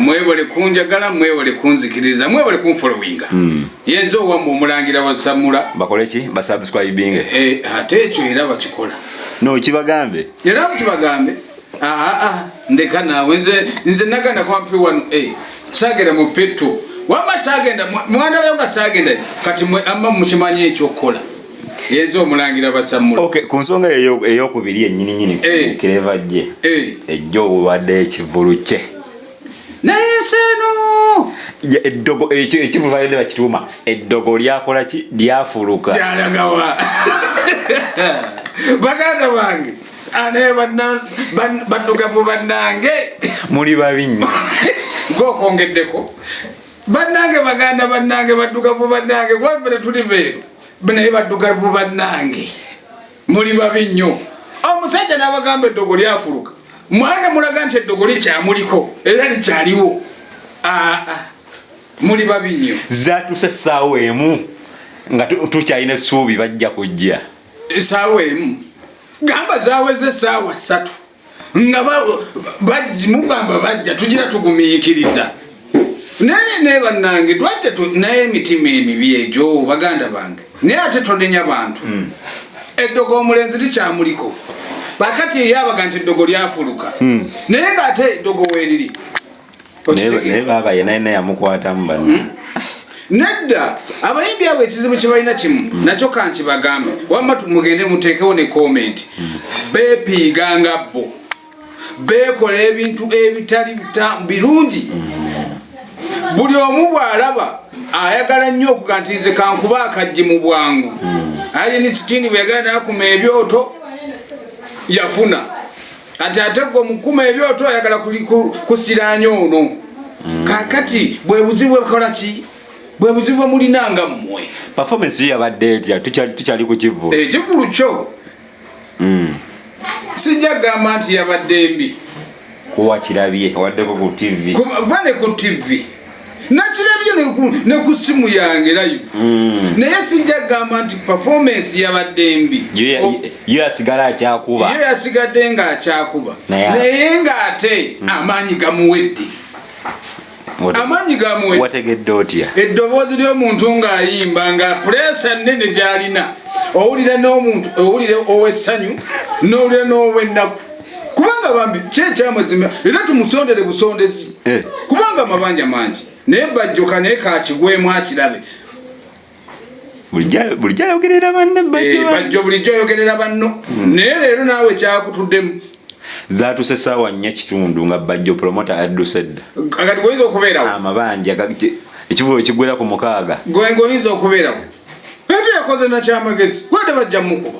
mwebale kunjagala mwebale kunzikiriza mwebale kunfolowinga hmm. yenza owamu omulangira wasamula bakoleki basubscribinge eh, eh, ate ekyo era bakikola no kibagambe era kibagambe ah, ah, ndeka naawe nze nze naganda kwampi wano eh, sagera mu peto wama sagenda mwana wayo nga sagenda kati mwe amma mukimanyi ekyokukola yenze omulangira basamula okay ku nsonga eyo eyokubiri enyini nyini eh. kireva je eh. ejjo obulwadde ekivulu kye naye seno eddogo ekyo ekivulu bayende bakituuma eddogo lyakola ki lyafuluka lyalagawa baganda bange anaye bannugavu bannange muli babi nnyo gwokwongeddeko bannange baganda bannange baddugavu bannange kuba tetuli beeru naye baddugavu bannange muli babi nnyo omusajja n'abagamba eddogo lyafuluka mwana mulaga nti eddogo likyamuliko era likyaliwo aa muli babi nnyo zatuse essaawa emu nga tukyalina essuubi bajja kujja essaawa emu gamba zaweze essaawa ssatu nga mugamba bajja tugira tugumiikiriza naye naye bannange twajja naye emitima emibi egyo baganda bange naye ate tonenya bantu hmm. eddogo omulenzi likyamuliko bakati eyabaga nti eddogo lyafuluka hmm. naye nga ate eddogo weriri naye baaba yena yena yamukwatamu bano hmm? nedda abayimbi abo ekizibu kyebalina kimu hmm. nakyo kanki bagambe wamma mugende muteekewo ne komenti hmm. bepiiga nga bo bekola ebintu ebitali birungi buli omu bwalaba ayagala nnyo okuga nti nze kankuba akajji mu bwangu ali ni sikini bweyagala nakuma ebyoto yafuna kati ate gwe omukuma ebyoto ayagala kusiranya ono mm. kakati bwe buzibu bwekola ki bwe buzibu bwemulina nga mmwe performance yo yabadde etya tukyali ku kivulu ekivulu eh, kyo mm. sijja kugamba nti yabadde mbi kuwakirabye awaddeko ku tv vane ku tv nakirabye ne ku simu yange live hmm. naye sijja kugamba nti performance yabadde mbi yo yasigala akyakuba yo yasigadde nga akyakuba naye nga ate hmm. amaanyi gamuwedde amaanyi gamuwewategedde otya eddoboozi ly'omuntu ng'ayimba nga puleesa nnene gy'alina owulira n'omuntu owulira ow'essanyu n'owulira n'ow'ennaku kubanga bambi kyekyamwezima era tumusondere busondezi eh. kubanga amabanja mangi naye bajjoka naye kakigwemu akirabe bulijjo ayogerera banne eh, bajjo bulijjo ayogerera banno hmm. naye leero naawe kyakutuddemu zatuse saawa nnya kitundu nga bajjo promota adduse dda kati goyinza okubeerawo amabanja ekivulo kigwera ku mukaaga gwenga oyinza okubeerawo etu yakoze nakyamagezi gwede bajja mukuba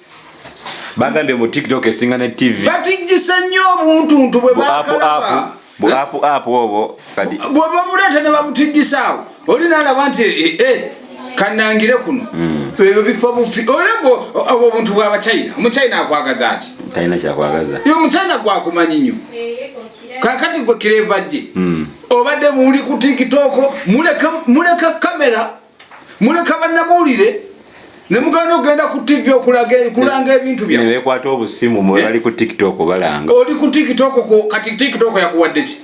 bagambye mu tiktok esinga ne tv batijjisa nnyo obuntuntu bwe bakalaba apu apu obwo kati bwe babuleeta ne babutijjisaawo oli naalaba nti ee eh, eh, kanangire kuno hmm. ebyo bifo bufi olabwo obwo obuntu bwa bachina omuchina akwagaza ki talina kyakwagaza yo omuchina gwakumanyi nnyo kakati gwe kireva gye hmm. obadde muli ku tiktok muleka kamera muleka bannamawulire ne muganda okugenda ku ttivi okulanga ebintu byawe bekwata obusimu mwe bali ku tiktok balanga oli ku tiktok kati tiktok yakuwadde ki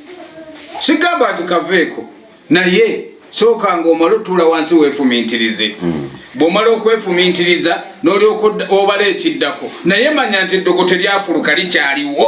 sigamba nti kaveeko naye sooka nga omala otuula wansi weefumintirize hmm. bw'omala okwefumintiriza n'olyoka obala ekiddako naye manya nti eddogo teryafuluka likyaliwo